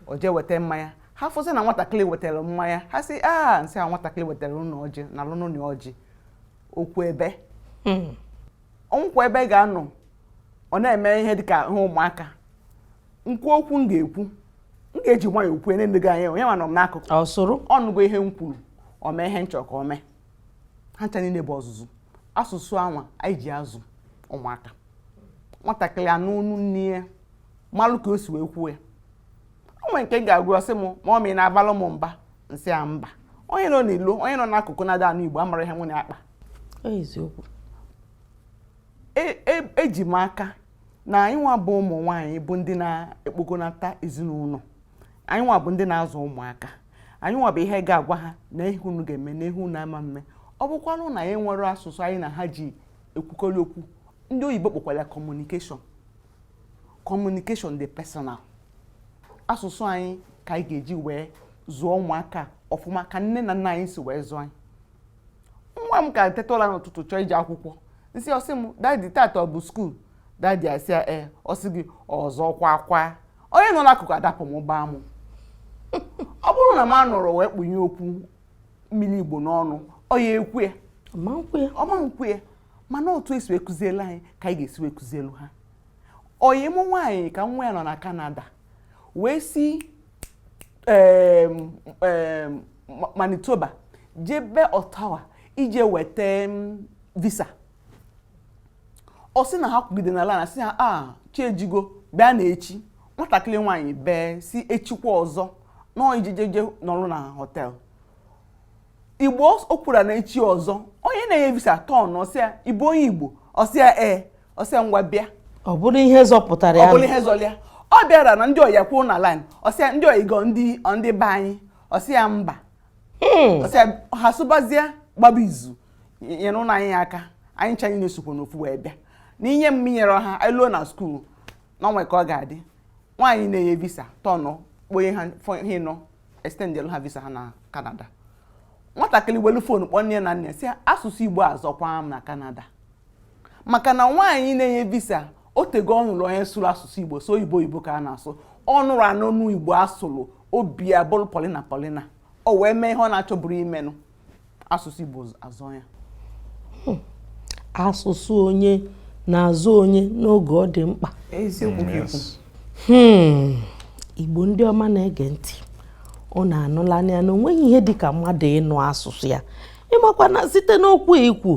o jee weta mmanya ha fụsị na nwatakịrị wetara mmanya ha sị a m sị a nwatakịrị wetara unu ọjị nalụnụ nụ ọjị okwu ebee hmm. o nwekwa ebe ọ ga-anọ ọ na-eme ihe dịka ihe ụmụaka m kwuo okwu m ga-ekwu m ga-eji nwayọ okwu na gị anya onye mana m n'akụkụ ọ nụgo ihe m kwuru o mee ihe m chọ ka o mee ha ncha niile bụ ọzụzụ asụsụ anwa anyị ji azụ ụmụaka nwatakịrị a nụ onu nne ya malụ ka o si wee kwuo ya o nwere nke m ga-ekwu ọ sị m mama ị na-abalụ m mba m sị ya mba onye nọ n'ilo onye nọ n'akụkụ na ada anụ igbo amara ihe anyị na-akpa eziokwu eji e, e m aka na anyị nwa bụ ụmụ nwaanyị bụ ndị na-ekpogonata ezinụlọ anyị nwa bụ ndị na-azụ ụmụaka anyị nwa bụ ihe ga-agwa ha na ihe unu ga-eme na ihe unu ama eme ọ bụkwanụ na anyị nwere asụsụ anyị na ha ji ekwukọrị okwu ndị oyibo kpọkwara communication communication dị personal asụsụ anyị ka anyị ga-eji wee zụọ ụmụaka ọfụma ka nne na nna anyị si wee zụọ anyị nwa m ka teta ụra n'ụtụtụ chọọ ije akwụkwọ m sị ọ sị m daddy taata ọ bụ school daddy asị ya ee ọ sị gị ọzọ kwa kwa onye nọ n'akụkụ adapụ m gbaa m ọ bụrụ na m anọrọ wee kpunye okwu mmiri igbo n'ọnụ ọ ya-ekwe ọ ma nkwe mana otu e si wee kụzielu anyị ka anyị ga-esi wee kụzielu ha ọyị mụ nwaanyị ka nwa ya nọ na Canada wee si Manitoba jebe Ottawa ije weta visa ọ sị na ha kwụgide na line a sị ha ah, chi ejigo bịa na echi nwatakịrị nwaanyị bee sị echikwa ọzọ na ọ ya-eje je nọrụ na hotel igbo o kwuru na echi ọzọ onye na-enye visa turn ọ sị ya ị bụ onye igbo ọ sị ya ee ọ sị ya ngwa bịa ọ bụrụ ihe zọpụtara ya ọ bụrụ ihe zọlụ ya ọ bịara na ndị ọyị ya kwụ na line ọ sị ya ndị ọyị gị ọ ndị ndị be anyị ọ sị ya mba hmm. ọ sị ya ha sụbazie gbaba izu nyerenụ anyị aka anyị ncha anyị na-esokwa n'ofu wee bịa na i nye m nyerọ ha anyị luo na school na o nwe ka ọ ga-adị nwaanyị na-enye visa tọnụ kponye ha ihe nọ extendelu ha visa ha na Canada nwatakịrị welu phone kpọọ nne na nna sị asụsụ igbo azọkwa m na Canada maka na nwaanyị na-enye visa o tego ọ nụrụ onye sụrụ asụsụ igbo sọ oyibo oyibo ka a na-asụ ọ nụrụ anụ igbo a sụrụ obi abụrụ polina polina o wee mee ihe ọ na-achọburọ imenụ asụsụ Igbo azọ ya hmm. asụsụ onye na-azọ onye n'oge ọ dị mkpa hmm. Igbo ndị ọma na-ege ntị ụnụ anụlanụ ya na onweghị ihe dị ka mmadụ ịnụ asụsụ ya ị makwa na site n'okwu i kwu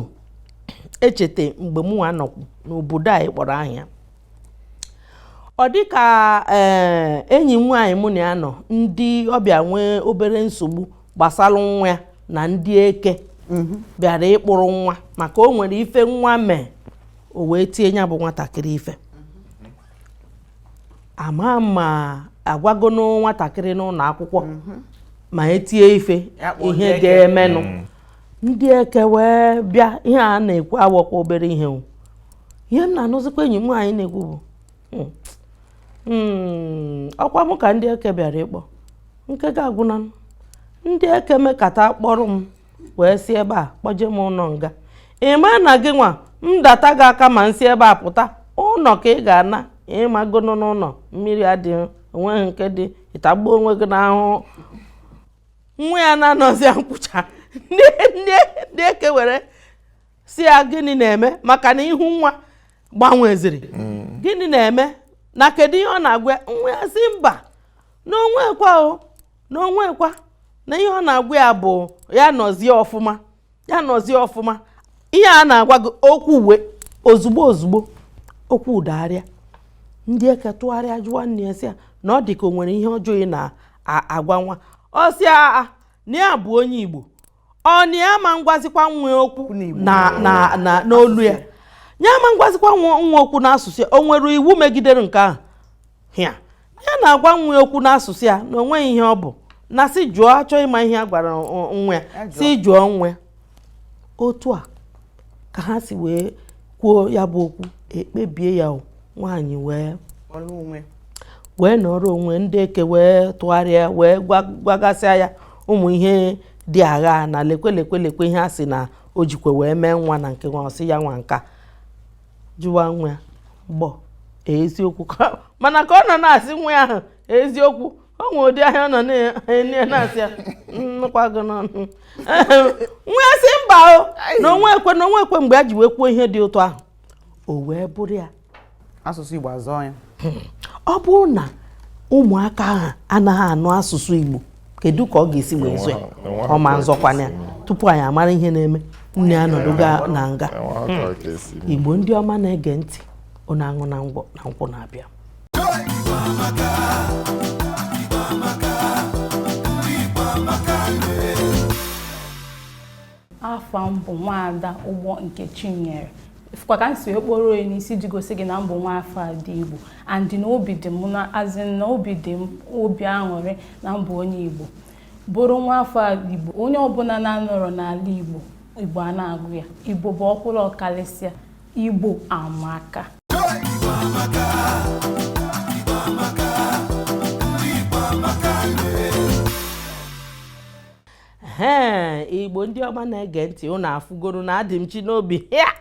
echeta mgbe mụnwa nọkwu n'obodo a kpọrọ ahịa ọ dị ka eh, enyi m nwaanyị mụ na ya nọ ndị ọbịa nwee obere nsogbu gbasara nwa ya na ndị eke mhm. bịara ịkpụrụ nwa maka o nwere ife nwa mee o wee tie ya bụ nwatakịrị ife a ma ma a gwago nwatakịrị n'ụlọ akwụkwọ mhm. ma e tie ife ihe ga-emenụ mm. ndị eke wee bịa ihe a na-ekwu awọkwa obere ihe ihe m na-anụzikwa enyi m nwaanyị na-ekwu bụ hmm. hmm. ọkwa m ka ndị eke bịara ịkpọ nke ga-agwụna ndị eke mekata kpọrọ m wee si ebe a kpọje m ụnọ nga ị ma na gịnwa m data gị aka ma m si ebe a pụta ụnọ ka ị ga-ana ị magonụ na ụnọ mmiri adịghị o nweghị nke dị ị tagbuo onwe gị n'ahụhụ nwa ya na-anọzi nkwucha ndị eke wee sị ya gịnị na-eme maka na ihu nwa gbanweziri mm. gịnị na-eme na kedu ihe ọ na-agwa ya nwa ya sị mba na o nwekwa o na o nwekwa na ihe ọ na-agwa ya bụ ya nọzie ọfụma ya nọzie ọfụma ihe a na-agwa gị o kwuwe ozugbo ozugbo okwu adagharịa ndị eke tụgharịa jụwa nne ya sị ya na ọ dị ka o nwere ihe ọjọọ ị na-agwa nwa ọ sị ha na ya bụ onye Igbo ọ na ya ama ngwazikwa nwa ya okwu n'olu ya ya ama ngwazikwa nwa ya okwu n'asụsụ ya o nwere iwu megidere nke ahụ ya ya na-agwa nwa ya okwu n'asụsụ ya na o nweghị ihe ọ bụ na sị jụọ a chọọ ịma ihe a gwara nwa ya sị jụọ nwa ya otu a ka ha si wee kwuo ya bụ okwu ekpebie ya nwaanyị wee wee nọrọ onwe ndị eke wee tụgharịa wee gwagasịa ya ụmụ ihe dị agha na lekwe lekwe lekwe ihe a sị na o jikwa wee mee nwa na nke nwa ọ sị ya nwa nka jụwa nwa ya ọ bụ eziokwu mana ka ọ nọ na-asị nwa ahụ eziokwu o nwe ụdị anya ọ nọ na-enye ya na-asị ya m nụkwa gị n'ọnụ nwa ya sị mba o na o nwekwe na o nwekwe mgbe a ji wee kwuo ihe dị otu ahụ o wee bụrụ ya asụsụ Igbo azọọ ya ọ bụrụ na ụmụaka ahụ anaghị anụ asụsụ Igbo kedu ka ọ ga-esi wee zọọ ya ọ ma nzọkwana ya tupu anyị amara ihe na-eme nne ya anọdụgo na nga Igbo ndị ọma na-ege ntị ụnụ aṅụna ngwọ na nkwụ na-abịa afa m bụ nwaada Ugbo Nkechinyere fụkwa ka m si wee kporo onye n'isi ji gosi gị na m bụ nwa afọ ndị igbo andị na obi dị m na azị na obi dị m obi aṅụrị na m bụ onye igbo bụrụ nwa afọ ndị igbo onye ọbụna na-anọrọ n'ala igbo igbo ana-agụ ya igbo bụ ọkwụrụ ọkarịsịa Igbo amaka. Igbo amaka. Igbo amaka. Ndị Igbo amaka Ee, Igbo ndị ọma na-ege ntị ụnụ afụgoro na Adịmchinobi a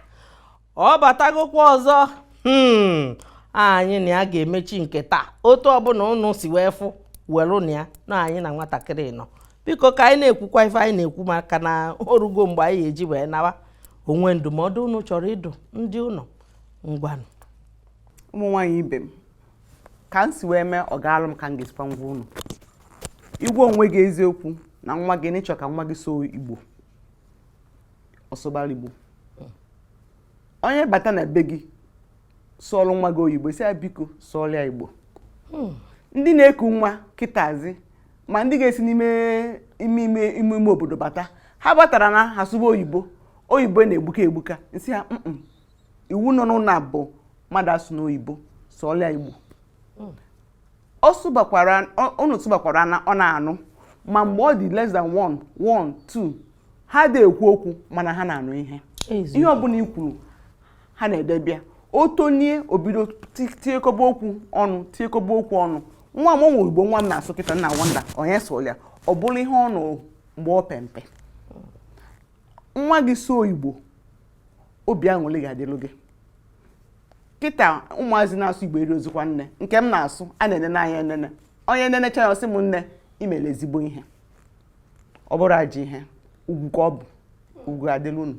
ọ batagokwa ọzọ hmm, anyị na ya ga-emechi nke taa otu ọbụna ụnụ si wee fụ werenụ ya na anyị na nwatakịrị nọ biko ka anyị na-ekwukwa ife anyị na-ekwu maka na orugo mgbe anyị ya-eji wee nawa o nwe ndụmọdụ unu chọrọ ịdụ ndị ụlọ ngwanụ ụmụ nwaanyị ibe m ka m si wee mee ọ gaalụ m ka m ga-esikwa gwa unu ị gwa onwe gị eziokwu na nwa gị na ị chọ ka nwa gị sụọ igbo ọ sụbara igbo onye bata na be gị sụọlụ nwa gị oyibo sị ya biko sụọlụ ya igbo hmm. ndị na-eku nwa kịtazi ma ndị ga-esi n'ime ime ime ime ime obodo bata ha batara na ha sụba oyibo oyibo na-egbuka egbuka m sị ha iwu nọ n'ụlọ a bụ mmadụ asụna oyibo sụọlụ ya igbo hmm. ọ sụbakwara unu sụbakwara na ọ na-anụ ma mgbe ọ dị less than one one two ha adị ekwu okwu mana ha na-anụ ihe ihe ọbụla i kwuru ha na-edebe ya o tolie o bido tiekọba okwu ọnụ tiekọba okwu ọnụ nwa m o nwe igbo nwa m na-asụ kịta m na wonder onye sụrụ ya ọ bụrụ ihe ọ nụrụ mgbe ọ pe mpe nwa gị sụọ igbo obi aṅụrị ga-adịlụ gị kịta ụmụazị na-asụ igbo erizikwa nne nke m na-asụ a na-ene n'anya enene onye nenecha ya ọ sị m nne i mere ezigbo ihe ọ bụrọ ajọ ihe ugwu ka ọ bụ ugwu ga-adịlụ unu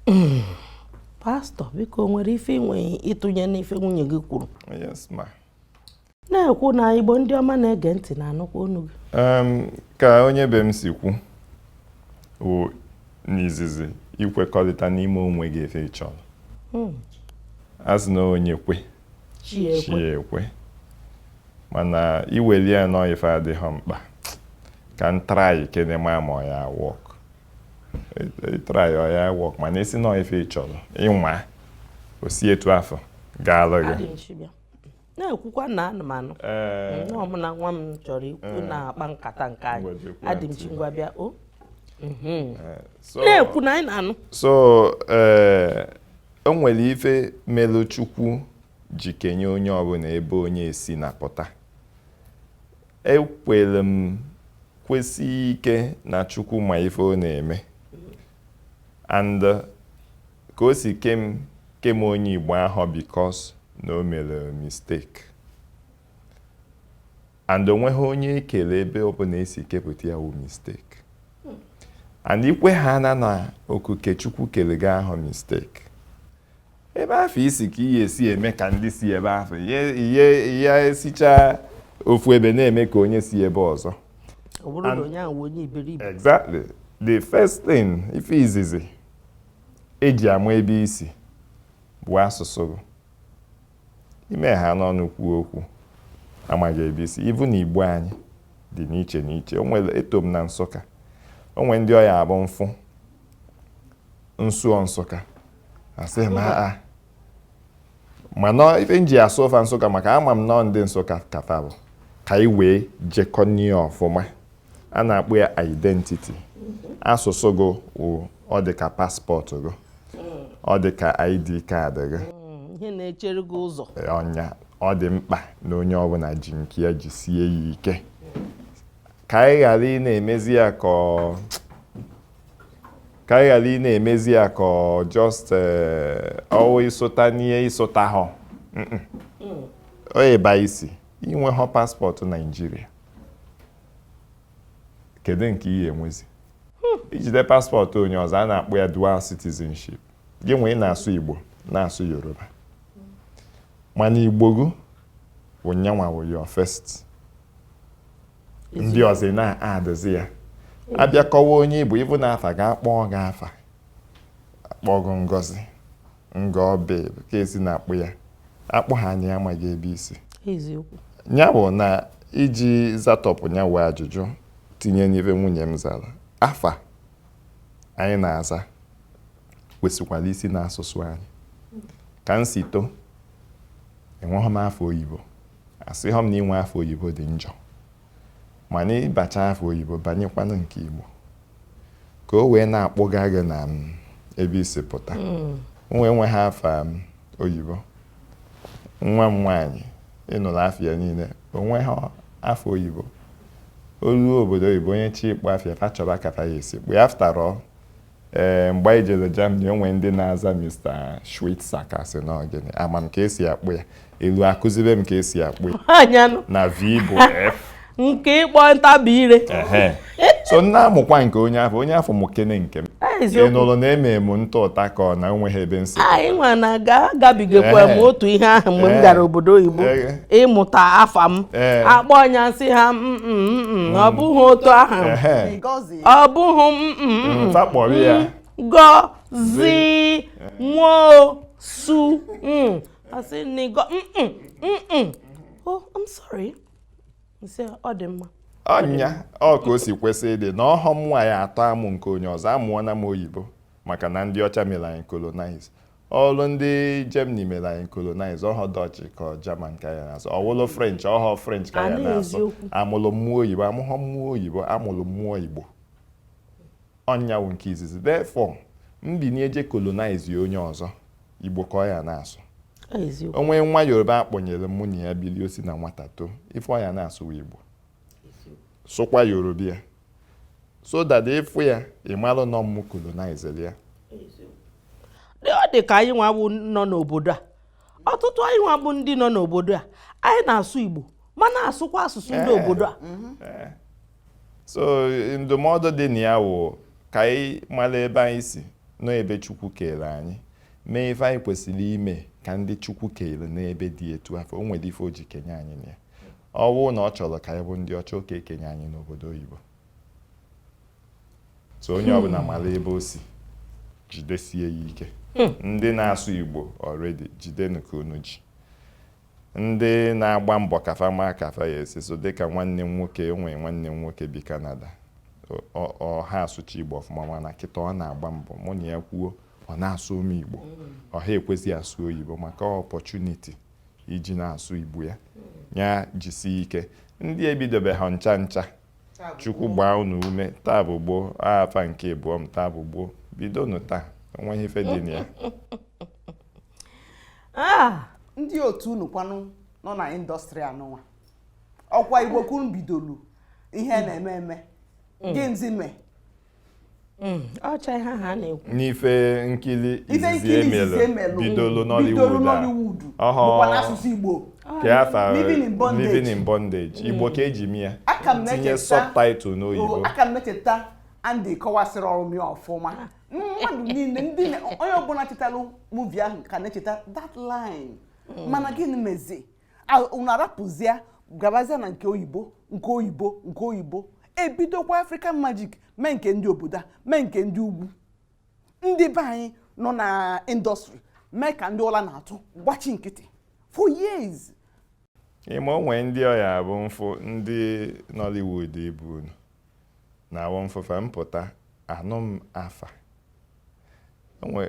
hmm. pastọ biko nwere ife i nwe ịtụnye n'ife nwunye gị kwuru na-ekwu na igbo ndị ọma na-ege ntị na-anụkwa onu gị ka onye be m si kwu bụ n'izizi ikwekọrịta n'ime onwe gị ife ị chọrọ hmm. a sị na onye kwe chi ya ekwe mana i weli ya na ọ ife adịghị mkpa ka m try kene ma ma ọ ya work ị try ọ ya work mana ị sị na ọ ife ị chọrọ ị nwaa o si etu afụ gaalụ gị na-ekwukwa na anụmanụ eh. nne ọmụna nwa m chọrọ ikwu eh. na-akpa nkata nke anyị adị m chingwa bịa o oh. mhm. eh, na-ekwu na anyị na-anụ so o nwere ife melụ chukwu ji kenye onye ọbụla ebe onye a si na-apụta Ekwere m kwesie ike na Chukwu ma ife ọ na-eme and uh, ka o si kee m kee m onye Igbo ahụ because na o mere mistake and o nweghị onye e kele ebe ọ bụla e si kepụta ya wu mistake and i kwehana na okike Chukwu kere gị ahụ mistake ebe afụ i si ka ị ya-esi eme ka ndị si ebe afụ ị ya-esichaa ofu ebe na-eme ka onye si ebe ọzọ exactly the first thing ife izizi eji ama ebe i si bụ asụsụ gị i mehana ọnụ kwuo okwu a mago ebe i si even igbo anyị dị n'iche n'iche o nwere etu m na nsụka o nwere ndị ọ ya-abụ mfụ m sụọ Nsụka asị m aa mana ife m ji asụva Nsụka maka ama m na ndị Nsụka kata bụ ka anyị wee jekọ n'ihu ọfụma a na-akpọ ya identity asụsụ gị wụ ọ dị ka paspọtụ gị ọ dị ka id kaadị gị mm, ihe na-echere gị ụzọ ọ nya ọ dị mkpa na onye ọbụla ji nke ya jisie ya ike ka anyị ghara ị na-emezi ya ka ka anyị ghara ị na-emezi ya ka ọ just eh, ọ wụ ị sụta n'ihe ị sụtahọ oyibo ị sị i nwehọ paspọtụ Naijiria kedu nke i ya enwezi hmm. i jide paspọtụ onye ọzọ a na-akpọ ya dual citizenship gị wee na-asụ igbo na-asụ yoruba mana igbo gị wụ nya nwa wụ your first ndị ọzọ ị na-adịzi ya abịa kọwa onye ị bụ ị bụ na afa ga-akpọ gị afa akpọ gị Ngozi nga ọbe ka e si na-akpọ ya akpọ ha anya amaghị ebe i si eziokwu ya bụ na iji zatọpụ ya wụ ajụjụ tinye n'ive nwunye m zara afa anyị na-aza kwesịkwara isi n'asụsụ anyị ka m si too enweghị m afa oyibo asịghọ m na inwe afa oyibo dị njọ mana ị bachaa afa oyibo banyekwanụ nke Igbo ka o wee na-akpụga gị na m mm, ebe i si pụta mm. nwa enweghị afa m mm, oyibo nwa m nwaanyị ị nụrụ afa ya niile o nweghị afa oyibo o luo obodo oyibo onye chọ ịkpọ afa ya fa chọba ka fa ya esi kpọ ya after all Ee, mgbe anyị jere Germany, o nwere ndị na-aza Mr. Schweitzer ka sị na gịnị ama m ka e si akpọ ya e luo a kuzibe m ka e si akpọ ya anya nụ na V bụ F nke ịkpọ m tabie ire ehe so m na-amụkwa nke onye ọzọ onye ọzọ mụkene nke m Ah, ị eziokwu nụrụ na eme m ntụ ụta ka ọ na enweghị ebe nsị anyị nwa na ga agabigakwa m Ehe. otu ihe ahụ mgbe m Ehe. gara obodo oyibo Ehe. ịmụta afa m Ehe. akpọọ nya m sị ha "Mm, mm, mm, mm, ọ bụghị otu ahụ ehe Ngozi ọ bụghị m mm, mm, mm. etu a kpọrọ ya. Ngozi Nwosu mm. asị na ịgọ mm, mm, mm, mm. oh i'm sorry m sị ọ dị mma ọ nya ọ ka o si kwesị ịdị na ọ họ m nwa ya atọ amụ nke onye ọzọ amụọna m oyibo maka na ndị ọcha mere anyị colonize ọ wụrụ ndị Germany mere anyị colonize ọ họ Dutch ka German ka anyị na-asụ ọ wụlụ French ọ họ French ka anyị na-asụ amụrụ mụ oyibo amụghọ mụ oyibo amụrụ mụ Igbo ọ nya wụ nke izizi therefore m binie je colonize onye ọzọ Igbo ka ọ ya na-asụ o nwee nwa Yoruba akpọnyere mụ na ya bili o si na nwata too ife ọ ya na-asụ wụ Igbo sụkwa yoruba ya so that ị fụ ya ị malụ na ọ mụ kolonizere ya ọ dị ka anyị nwa nọ n'obodo a ọtụtụ anyị nwa bụ ndị nọ n'obodo a anyị na-asụ Igbo ma na-asụkwa asụsụ ndị eh, obodo a mhm. eh. so ndụmọdụ dị na ya wụ ka anyị mara ebe anyị si na ebe Chukwu kere anyị mee ife anyị kwesịrị ime ka ndị Chukwu kenyelu n'ebe dị etu afụ o nwere ife o ji kenye anyị na ya ọ bụrụ na ọ chọrọ ka anyị bụ ndị ọcha ọ ka-ekenye anyị n'obodo oyibo so onye hmm. ọbụla mara ebe o si jidesie ya ike hmm. ndị na-asụ igbo already jidenu ka unu ji ndị na-agba mbọ ka fa ma ka fa ya-esi sụọ dịka nwanne m nwoke e nwe nwanne m nwoke bi kanada ọ ha asụcha igbo ọfụma mana kịta ọ na-agba mbọ mụ na ya kwuo ọ na-asụ m igbo hmm. ọ ha ekwezi asụ oyibo maka opportunity iji na-asụ igbo ya ya jisi ike ndị ebidobeha ncha ncha chukwu gbaa unu ume taa bụ gboo afa nke ịbụọ m taa bụ gboo bidonụ taa o nweghị ife dị na ya ah! ndị otu unu kwanụ nọ na industry anụnwa ọkwa igbo ka unu bidolu ihe na-eme eme mm. gịnịzi mee Hmm, ọcha ihe ha na-ekwu n'ife nkiri izizi e melu bidolu Nollywood ọhụụ n'asụsụ Igbo kee afa Living in Bondage Living in Bondage hmm. Igbo ka e ji mee ya tinye subtitle n'oyibo oh, aka m na-echeta Andy kọwasịrị ọrụ m ya ọfụma mmadụ niile ndị onye ọbụla chetalụ movie ahụ ka na-echeta that line hmm. mana gịnị mezi unu arapụzịa gabazịa na nke oyibo nke oyibo nke oyibo e bidokwa african magic mee nke ndị obodo a mee nke ndị ugwu ndị be anyị nọ na industry mee ka ndị ụla na-atụ gbachi nkịtị for years ị ma o nwe ndị ọ ya-abụ m fụ ndị nollywood ibe unu na-abụ m fụ fa m pụta anụ m afa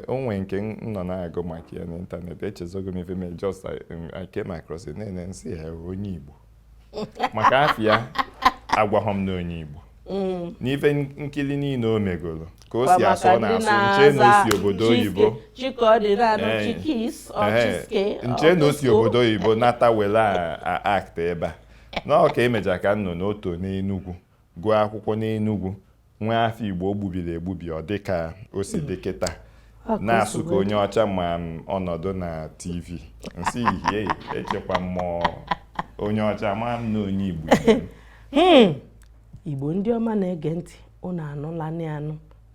o nwe nke m nọ na-agụ maka ya n'internet echezogo m ife mee just I came across it na-ene m sị hịa onye Igbo maka afa ya agwahọ m na ọ onye Igbo mm. n'ife nkiri niile o megoro ka o si asụ ọ na-asụ m chee na o si obodo oyibo m chee na o si obodo oyibo nata were act ebe a na ọ ka e mecha ka m nụ na o to n'Enugwu gụọ akwụkwọ n'Enugwu nwa afọ Igbo gbubiri egbubi ọ dị ka o si dị kịta na-asụ ka onye ọcha ma ọ nọdụ na TV m sị hịa echekwa mụ ọ onye ọcha ama m na ọ onye Igbo hmm. Igbo ndị ọma na-ege ntị unu anụla anụ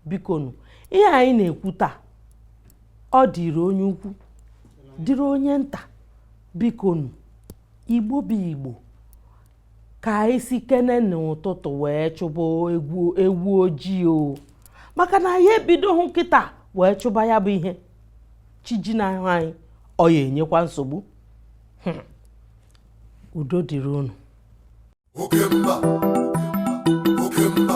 bikonu ihe anyị na-ekwu taa ọ dịrị onye ukwu dịrị onye nta bikonu Igbo bụ Igbo ka anyị sikene n'ụtụtụ wee chụba ewu ojii o maka na anyị ebidohụ kịta wee chụba ya bụ ihe chi jinahụ anyị ọ ya enyekwa nsogbu hmm. udo dịrị unu oke mba oke mba